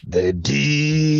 the DC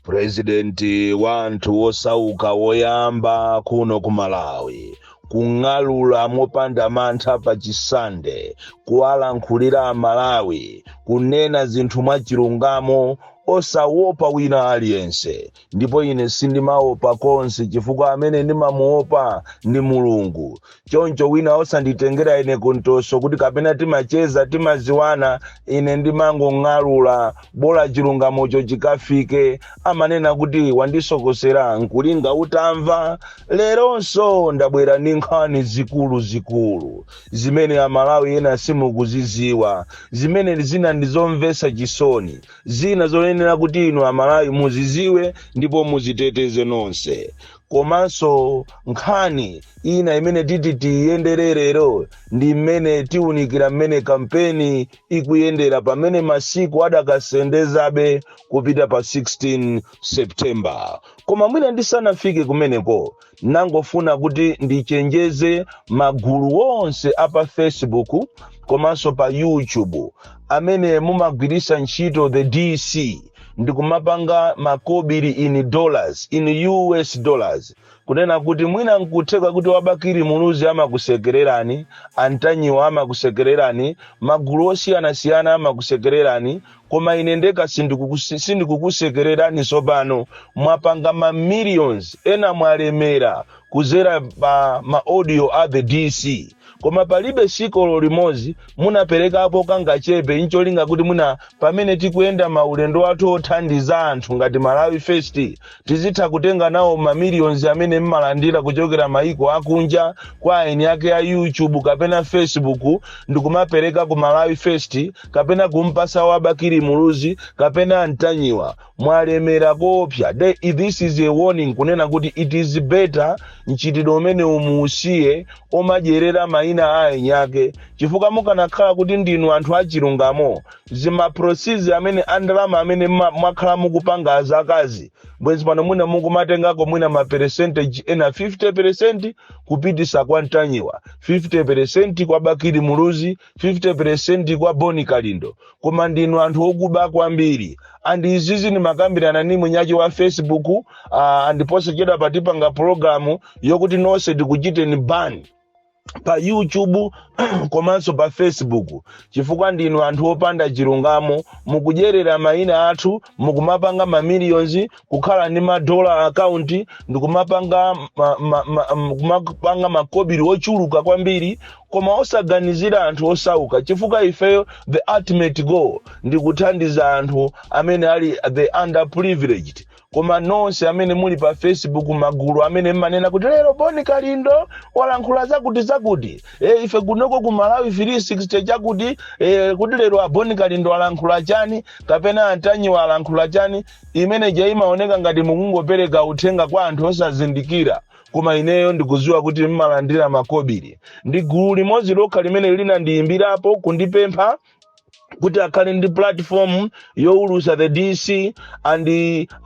purezidenti wa anthu wosauka woyamba kuno ku malawi kung'alura mopanda mantha pa chisande kuwalankhulira amalawi kunena zinthu mwachilungamo osawopa wina aliyense Ndipo ine sindimawopa konse, chifukwa amene ndimamuwopa ndi Mulungu. Choncho wina asanditengera ine kuntoso kuti kapena timacheza, timaziwana, ine ndimangong'alula, bola chilungamocho chikafike. Amanena kuti wandisokosera, nkulinga utamva? Leronso ndabwera ndi nkhani zikulu zikulu, zimene a Malawi ena simukuziziwa, zimene zina ndizomvesa chisoni, Zina zoyenera kuti inu Amalawi muziziwe ndipo muziteteze nonse. Komanso nkhani ina imene titi tiyenderere lero ndi mmene tiunikira mmene kampeni ikuyendera pamene masiku adakasendezabe kupita pa 16 September. Koma mwina ndisanafike kumeneko Nangofuna kuti ndichenjeze magulu onse a pa Facebook komanso pa YouTube amene mumagwiritsa ntchito the DC ndikumapanga makobiri in dollars in US dollars kunena kuti mwina nkutheka kuti a Bakili Muluzi amakusekererani a Ntanyiwa amakusekererani magulu osiyanasiyana amakusekererani koma ine ndekha sindikukusekererani tsopano mwapanga ma millions ena mwalemera kuzera pa ma audio a the dc koma palibe tsiku olo limodzi munaperekapo kangachepe ncholinga kuti muna pamene tikuyenda maulendo athu othandiza anthu ngati malawi first Tizitha kutenga nawo ma millions amene mmalandira kuchokera maiko akunja kwa aeni ake a YouTube kapena Facebook ndikumapereka ku Malawi first kapena kumpasa wa Bakili Muluzi kapena a Ntanyiwa. Mwalemera koopsa. This is a warning kunena kuti it is better mchitidwe umenewu muusiye omadyerera maina a aeni ake chifukwa mukanakhala kuti ndinu anthu achilungamo Zi ma proceeds amene a ndalama amene mwakhala mukupanga zaka zaka izi bwenzi pano mwina mukumatengako mwina ma percentage ena 50% kupitisa kwa Ntanyiwa, 50% kwa Bakili Muluzi, 50% kwa Boni Kalindo. Koma ndinu anthu okuba kwambiri. And izizi ndimakambirana ni mwini wache wa Facebook uh, and posachedwapa tipanga program yokuti nonse tikuchiteni ban. pa youtube komanso pa facebook chifukwa ndinu anthu opanda chilungamo mukudyerera mayina athu mukumapanga mamiliyonzi kukhala ndi ma dollar account ndikumapanga ma, ma, ma, m- kumapanga makobiri ochuluka kwambiri koma osaganizira anthu osauka chifukwa ifeyo the ultimate goal ndi kuthandiza anthu amene ali the underprivileged Koma nonse amene muli pa Facebook magulu amene mmanena kuti lero Boni Kalindo walankhula zakuti zakuti. E, ife kunoko ku Malawi 360 chakuti e, kuti lero a Boni Kalindo alankhula chani kapena Antanyiwa alankhula chani imene ija imaoneka ngati mukungopereka uthenga kwa anthu osazindikira koma ineyo ndikuziwa kuti mmalandira makobiri ndi gulu limodzi lokha limene linandiyimbirapo kundipempha kuti akhale ndi platform yowulusa the dc and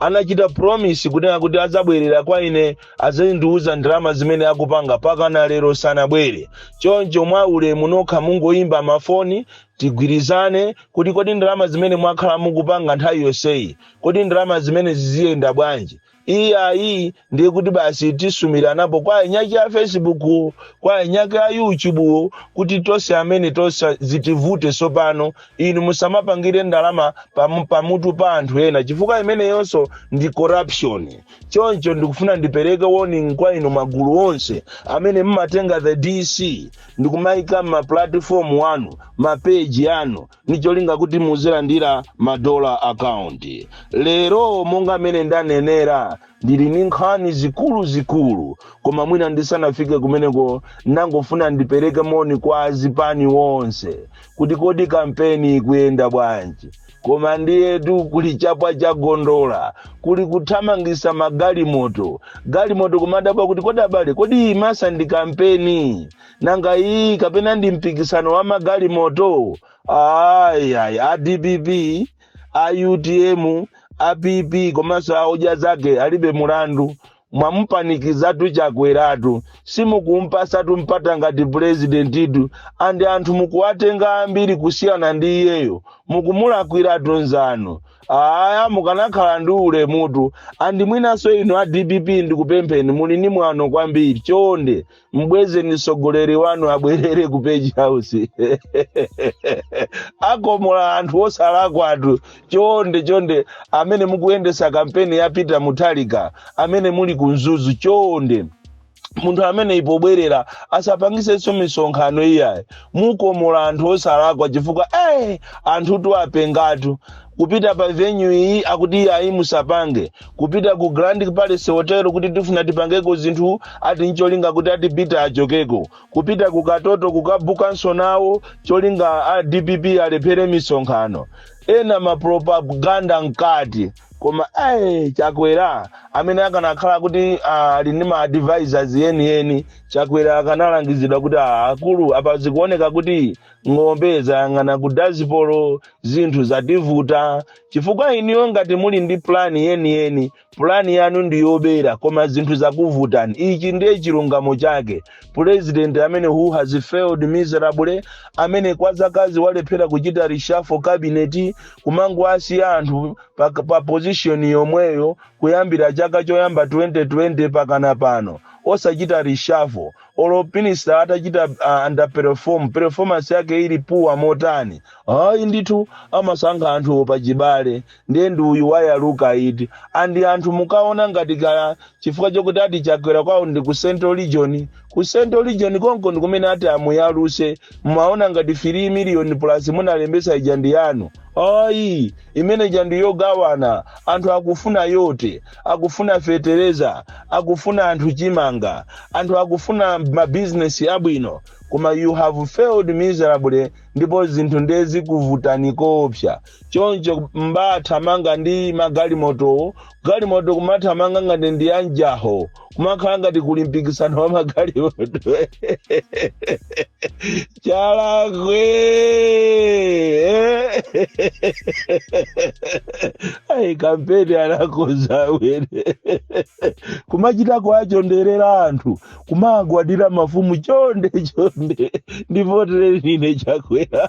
anachita promise kunena kuti adzabwerera kwa ine azandiuza ndalama zimene akupanga paka na lero sanabwere choncho mwa ulemu nokha mungoyimba mafoni tigwirizane kuti kodi ndalama zimene mwakhala mukupanga nthawi yonseyi kodi ndalama zimene ziziyenda bwanji Iyayi ndiye kuti basi tisumiranapo kwa eniake a Facebook, kwa eniake a YouTube kuti tonse amene tonse zitivute tsopano. Inu musamapangire ndalama pam- pamutu pa anthu ena chifukwa imeneyonso ndi corruption. Choncho ndikufuna ndipereke warning kwa inu magulu onse amene mmatenga the DC ndikumayika ma platform anu, ma page anu ndi cholinga kuti muzilandira ma dollar account lero monga mmene ndanenera ndili ndi nkhani zikuluzikulu koma mwina ndisanafike kumeneko ndangofuna ndipereke moni kwa azipani wonse kuti kodi kampeni ikuyenda bwanji koma ndiyetu kuli chapwa cha gondola kuli kuthamangisa magalimoto galimoto kumadabwa kuti kodi abale kodi ilipo ndi kampeni nanga iyi kapena ndi mpikisano wa magalimoto ayi ayi a dpp a utm a pp komanso a odya zake alibe mlandu mwamupanikizatu Chakweratu simukumpasatu mpata ngati purezidentitu andi anthu mukuwatenga ambiri kusiyana ndi iyeyo mukumulakwiratu nzanu aya mukanakhala ndi ulemutu andi mwinanso inu a dpp ndikupempheni muli ni mwano kwambiri chonde mbwezeni mtsogoleri wanu abwerere ku page house akomola anthu osalakwatu chonde chonde amene mukuyendesa kampeni ya peter mutharika amene muli ku mzuzu chonde munthu ameneyi pobwerera asapangisenso misonkhano iyayi mukomola anthu osalakwa chifukwa eh, anthutu apengatu kupita pa venue iyi akuti iyayi musapange kupita ku grand palace hotel kuti tifuna tipangeko zinthu ati ncholinga kuti ati peter achokeko kupita ku katoto kukabukanso nawo cholinga a dpp alephere misonkhano ena mapropaganda mkati koma ayi chakwera amene akanakhala kuti ah, ali ndi ma advisors enieni chakwera akanalangizidwa kuti ah, akulu apa zikuoneka kuti ng'ombe zayang'ana ku dazipolo zinthu zativuta chifukwa inuyo ngati muli ndi pulani yeniyeni pulani yanu ndi yobera koma zinthu zakuvutani ichi ndiye chilungamo chake pulezidenti amene who has failed miserably amene kwa zakazizi walephera kuchita rishafo kabineti kumangowasiya anthu pa, pa pozishoni yomweyo kuyambira chaka choyamba 2020 mpakana pano osachita rishafo olo minister atachita uh, underperform performance yake ili poor motani ayi ndithu amasankha anthu pachibale ndiye ndi uyu wayaluka eti and anthu mukaona ngati kaya chifukwa chokuti ati chakwera kwawo ndi ku central region ku central region konko ndi kumene ati amuyaluse mumaona ngati 3 million plus munalembetsa ija ndi yanu ayi imene ija ndi yogawana anthu akufuna vote akufuna fetereza akufuna anthu chimanga anthu akufuna mabizinesi abwino koma you have failed miserably ndipo zinthu ndiye zikuvutani koopsa choncho mmathamanga ndi magalimotowo galimoto kumathamanga ngati ndi anjaho kumakhala ngati kuli mpikisano wa magalimoto Chalakwe! Eh? Ai, kampeni anakhoza wene kumachita kuwachonderera anthu kumagwadira mafumu chonde chonde ndivotere nine chakwera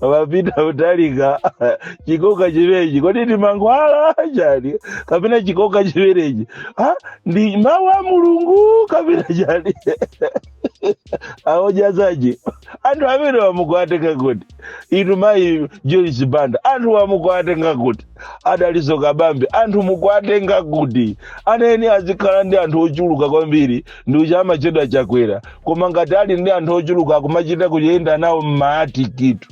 wa peter mutharika chikoka chimenechi kodi ndi mankhwala chani kapena chikoka chimenechi Ah, ndi mawu a mulungu kapena chani aojazaji anthu amene wa mukuwatenga kuti inu mayi joyce banda anthuwa mukuwatenga kuti a dalitso kabambe anthu mukuwatenga kuti amene azikhala ndi anthu ochuluka kwambiri ndi uja amatchedwa chakwera koma ngati ali ndi anthu ochuluka akumachita kuyenda nawo mmaatikitu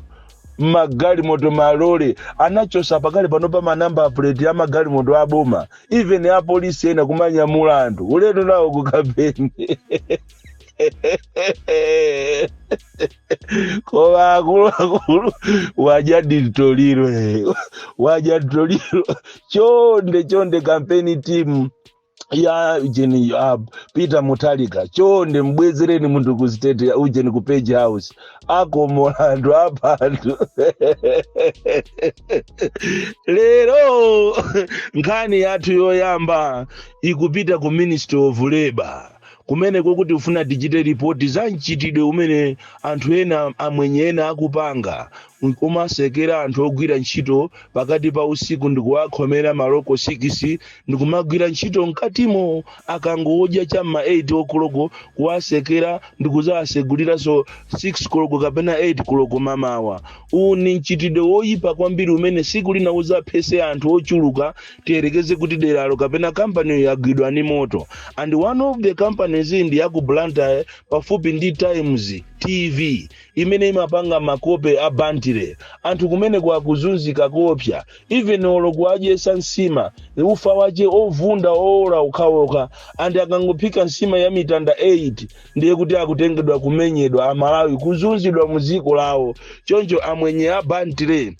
mmagalimoto malole anachotsa pakali pano pa manamba puleti a magalimoto aboma even ya polisi ena kumanyamula anthu ulendo nawo ku kampeni koma akuluakulu waja nditoliro eh. waja nditoliro chonde chonde kampeni timu ya ujeni a peter mutharika chonde mbwezereni munthu ku state ya ujeni ku page house akomola anthu apha anthu lero nkhani yathu yoyamba ikupita ku ministry of labor Kumeneko tikufuna tichite lipoti za mchitidwe umene anthu ena amwenye ena akupanga kumasekera anthu ogwira ntchito pakati pa usiku ndikuwakhomera maloko sikisi ndikumagwira ntchito mkatimo akangodya cha m'ma 8 o'clock kuwasekera ndikuzawaseguliranso 6 koloko kapena 8 koloko mamawa. Uwu ndi mchitidwe woyipa kwambiri umene siku lina uzaphese anthu ochuluka Tiyerekeze kuti deralo kapena kampaniyo yagwidwa ndi moto and one of the companies ndi ya ku Blantyre pafupi ndi Times TV imene imapanga makope a Bantire. Anthu kumeneko akuzunzika koopsa even olo kuwadyesa nsima ufa wache ovunda owola okhaokha and akangophika nsima ya mitanda 8 ndiye kuti akutengedwa kumenyedwa Amalawi kuzunzidwa mu dziko lawo. Choncho amwenye a Bantire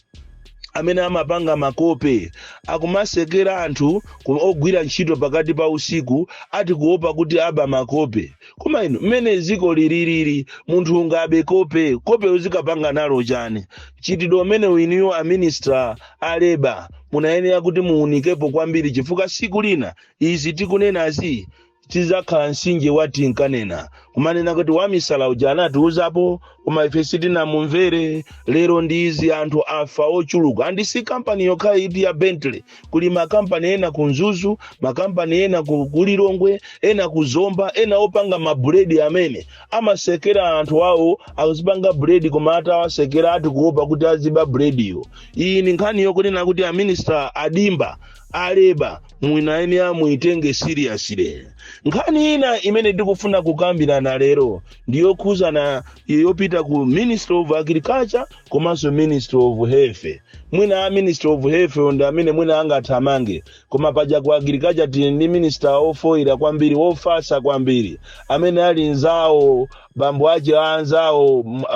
amene amapanga makope akumasekera anthu ku- ogwira ntchito pakati pa usiku ati kuopa kuti aba makope koma inu mmene dziko lililili munthu ungabe kope kope uzikapanga nalo chani mchitidwe umene inuyo a minista a leba munayenera kuti muunikepo kwambiri chifukwa siku lina izi tikunenazi tidzakhala mtsinje wa tinkanena kumanena kuti wamisala uja anatiuzapo koma ife sitinamumvere lero ndi izi anthu afa ochuluka andi si kampani yokha iti ya bentley kuli makampani ena ku mzuzu makampani ena ku lilongwe ena ku zomba ena opanga mabuledi amene amasekera anthu awo akuzipanga buledi koma atawasekera ati kuopa kuti aziba bulediyo iyi ni nkhani yokunena kuti a minista a dimba a leba munayenera muitenge seriously nkhani ina imene ndikufuna kukambirana lero ndiyokhuzana yopita ku ministry of agriculture komanso ministry of health mwina a ministry of health ndi amene mwina angathamange koma paja ku agriculture tili ndi minister ofoyira kwambiri ofasa kwambiri amene ali nzawo bambo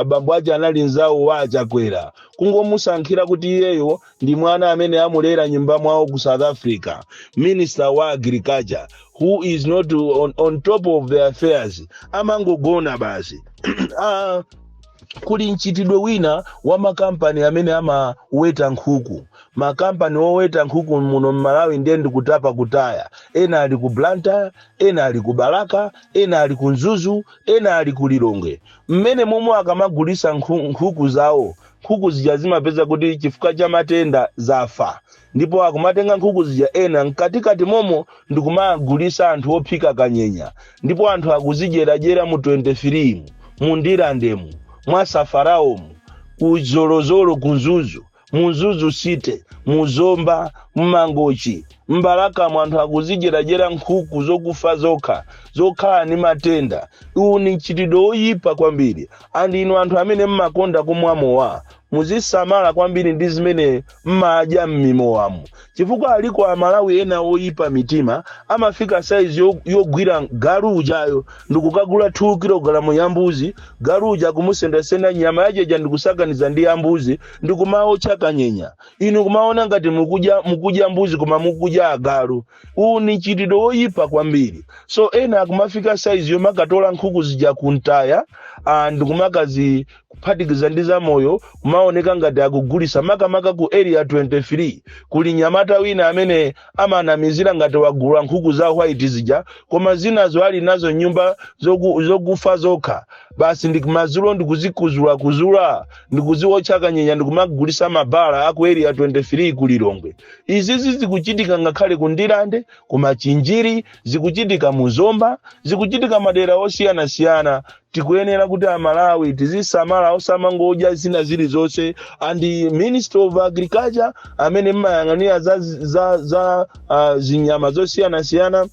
bambo ache anali nzawo wa achakwera kungomusankhira kuti iyeyo ndi mwana amene amulera nyumba mwawo ku south africa minister wa agriculture who is not on, on top of their affairs amangogona basi ah, kuli mchitidwe wina wa makampani amene amaweta nkhuku makampani oweta nkhuku muno mmalawi ndiye ndikutapa kutaya ena ali ku blantyre ena ali ku balaka ena ali ku mzuzu ena ali ku lilongwe mmene momwe akamagulisa nkhu- nkhuku zawo Nkhuku zija zimapeza kuti chifukwa cha matenda zafa ndipo akumatenga nkhuku zija ena mkatikati momo ndikumagulisa anthu ophika kanyenya ndipo anthu akuzidyeradyera mu 23 mu, mu Ndirande mu, mwa Safalao mu, ku Zolozolo ku Mzuzu, mu Mzuzu city, mu Zomba, mu Mangochi, M'balakamo anthu akuzidyeradyera nkhuku zokufa zokha, zokhala ndi matenda. Uwu ndi mchitidwe woyipa kwambiri. And inu anthu amene m'makonda kumwa mowa, muzisamala kwambiri ndi zimene m'madya m'mimowamu. Chifukwa aliko a Malawi ena oyipa mitima, amafika size yogwira galu ujayo ndikukagula 2 kilogalamu ya mbuzi, galu uja akumusendasenda nyama yajayo ndikusakaniza ndi ya mbuzi, ndikumaotcha kanyenya. inu kumaona ngati mukudya mukudya mbuzi koma mukudya agalu uwu ni mchitidwe woyipa kwambiri so ena akumafika saizi yomakatola nkhuku zija kumtaya ah, ndikumakazi kuphatikiza ndi zamoyo kumaoneka ngati akugulisa makamaka ku area 23 kuli mnyamata wina amene amanamizira ngati wagula nkhuku za white zija koma zinazo ali nazo mnyumba zoku, zokufa zokha basi ndi kumadzulo ndikuzikuzula kuzula ndikuziwotcha kanyenya ndikumagulisa mmabala aku area 23 ku lilongwe izizi zikuchitika ngakhale ku ndirande ku machinjiri zikuchitika mu zomba zikuchitika madera osiyanasiyana tikuyenera kuti amalawi tizisamala osamangodya zina zilizonse and ministry of agriculture amene mmayang'anira za, za, za uh, zinyama zosiyanasiyana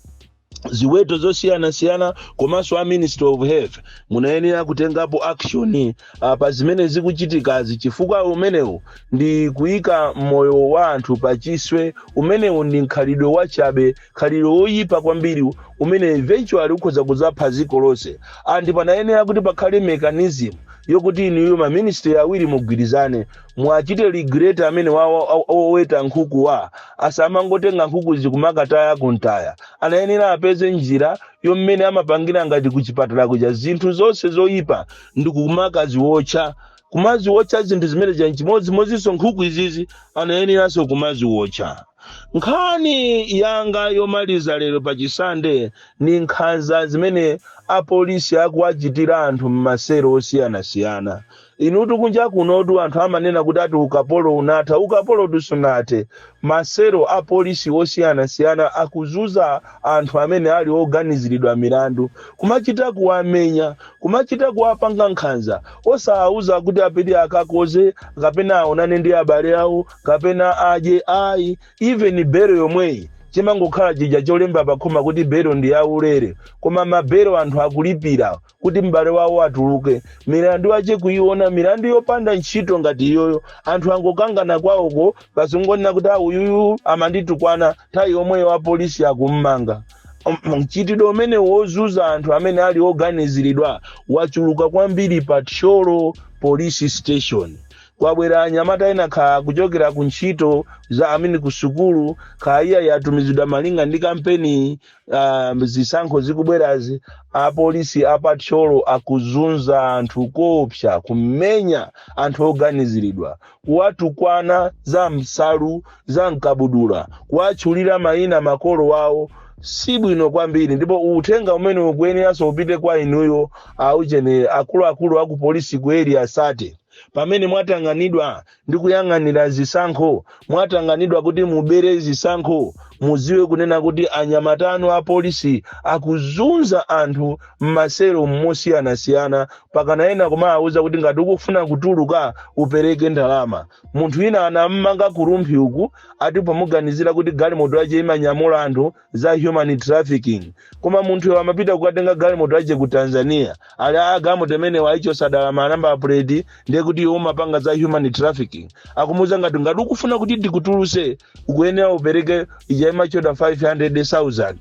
ziweto zosiyanasiyana komanso a ministry of health munayenera kutengapo action uh, pa zimene zikuchitikazi chifukwa umenewu ndi kuyika moyo wa anthu pa chiswe umenewu ndi mkhalidwe wachabe khalidwe woyipa kwambiri umene eventually ukhoza kuzapha dziko lonse and panayenera kuti pakhale mechanism yokuti inuyo maministry awiri mugwirizane muwachite regulate amene wa- wa- wa- woweta nkhukuwa asamangotenga nkhukuzi kumakataya kumtaya anayenera apeze njira yommene amapangira ngati kuchipatala kuja zinthu zonse zoyipa ndikumakaziwotcha kumaziwotcha zinthu zimene zija nchimodzimodzinso nkhuku izizi anayeneranso kumaziwotcha nkhani yanga yomaliza lero pa chisande ni nkhanza zimene apolisi akuwachitira anthu m'maselo osiyanasiyana inutu kunja kunotu anthu amanena kuti ati ukapolo unatha ukapolo tu sunathe m'maselo apolisi osiyanasiyana akuzunza anthu amene ali oganiziridwa milandu kumachita kuwamenya Kumachita kuwapanga nkhanza, osawauza kuti apite akakoze kapena aonane ndi abale awo kapena adye ayi. Even belo yomweyi chimangokhala chija cholemba pakhoma kuti belo ndi yaulere koma mabelo anthu akulipira kuti m'bale wawo atuluke milandu yache kuiona milandu yopanda ntchito ngati iyoyo anthu angokangana kwawoko basi wangonena kuti a uyuyu amanditukwana nthawi yomweyo apolisi akummanga M- mchitidwe umene wozunza anthu amene ali oganiziridwa wachuluka kwambiri pa thyolo police station kwabwera anyamata ena kha kuchokera ku ntchito za amene ku sukulu kha eya atumizidwa malinga ndi kampeni uh, zisankho zikubwerazi apolisi apa thyolo akuzunza anthu koopsa kumenya anthu oganiziridwa kuwatukwana za msalu za mkabudula kuwatchulira mayina makolo awo si bwino kwambiri ndipo uthenga umene ukuyeneranso upite kwa inuyo auchenere akuluakulu aku polisi ku area 30 pamene mwatanganidwa ndi kuyang'anira zisankho mwatanganidwa kuti mubere zisankho mudziwe kunena kuti anyamata anu a polisi akuzunza anthu m'maselo osiyanasiyana mpakana ena kumawuza kuti ngati ukufuna kutuluka upereke ndalama munthu wina anammanga ku rumphi uku ati pomuganizira kuti galimoto yace imanyamula anthu za human trafficking koma munthuyo amapita kukatenga galimoto yace ku tanzania ali a galimoto imenewa ayichotsa dala manamba puleti ndiye kuti iwo amapanga za human trafficking akumuwuza ngati ngati ukufuna kuti tikutulutse ukuyenera upereke ija imachedwa 500000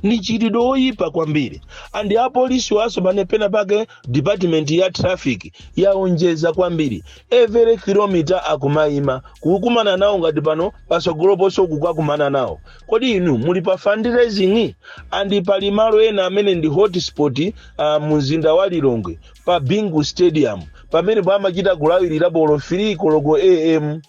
ndi mchitidwe oyipa kwambiri and apolisi awanso pena pake department ya traffic yaonjeza kwambiri every kilomita akumayima kukumana nawo ngati pano patsogolo ponso kukakumana nawo kodi inu muli pa fundraising and pali malo ena amene ndi hotspot uh, mumzinda wa lilongwe pa bingu stadium pamene pamachita kulawirirapo olo 3 koloko am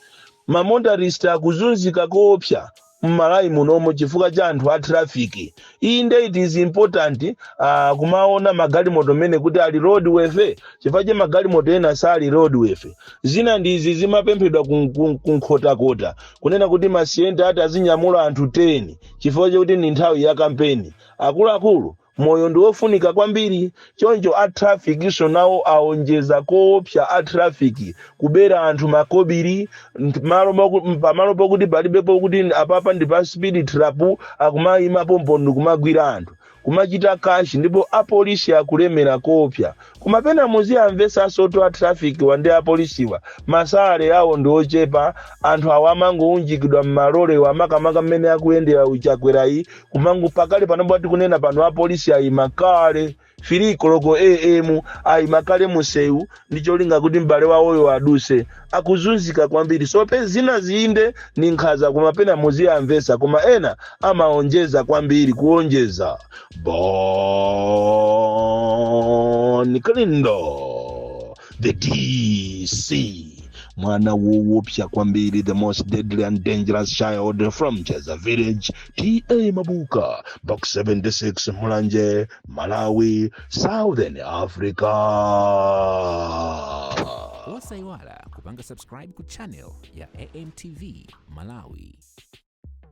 mamotorist akuzunzika koopsa mmalawi munomu chifukwa cha anthu a traffic inde it is important uh, kumaona magalimoto amene kuti ali roadworthy chifukwa cha magalimoto ena sali roadworthy zina ndi izi zimapemphedwa kun- kun- kunkhotakota kunena kuti masiyenta ati azinyamula anthu 10 chifukwa chakuti ndi nthawi ya kampeni akuluakulu Moyo ndi wofunika kwambiri, choncho a traffic so nawo aonjeza koopsa a traffic kubera anthu makobili nt- malo moku- m- pamalo pokuti palibepo kuti n- apapa ndi pa speed trap akumayima pompo ndikumagwira anthu kumachita cash ndipo apolisi akulemera koopsa koma pena muziwamvetsanso poti a traffic wa ndi apolisiwa masalary awo ndi ochepa anthu awa amangounjikidwa m'malole wa makamaka mmene akuyendera a Chakwerayi kumangoti pakali panopa tikunena pano apolisi ayima kale 3 koloko am ayima kale musewu ndi cholinga kuti m'bale wawoyo aduse akuzunzika kwambiri so pe zina zinde ndi nkhaza koma pena muziwamvetsa koma ena amaonjeza kwambiri kuonjeza bon kalindo the dc mwana woopsa kwambiri the most deadly and dangerous child from cheza village ta mabuka box 76 mulanje malawi southern africa osaiwala kupanga subscribe ku channel ya amtv malawi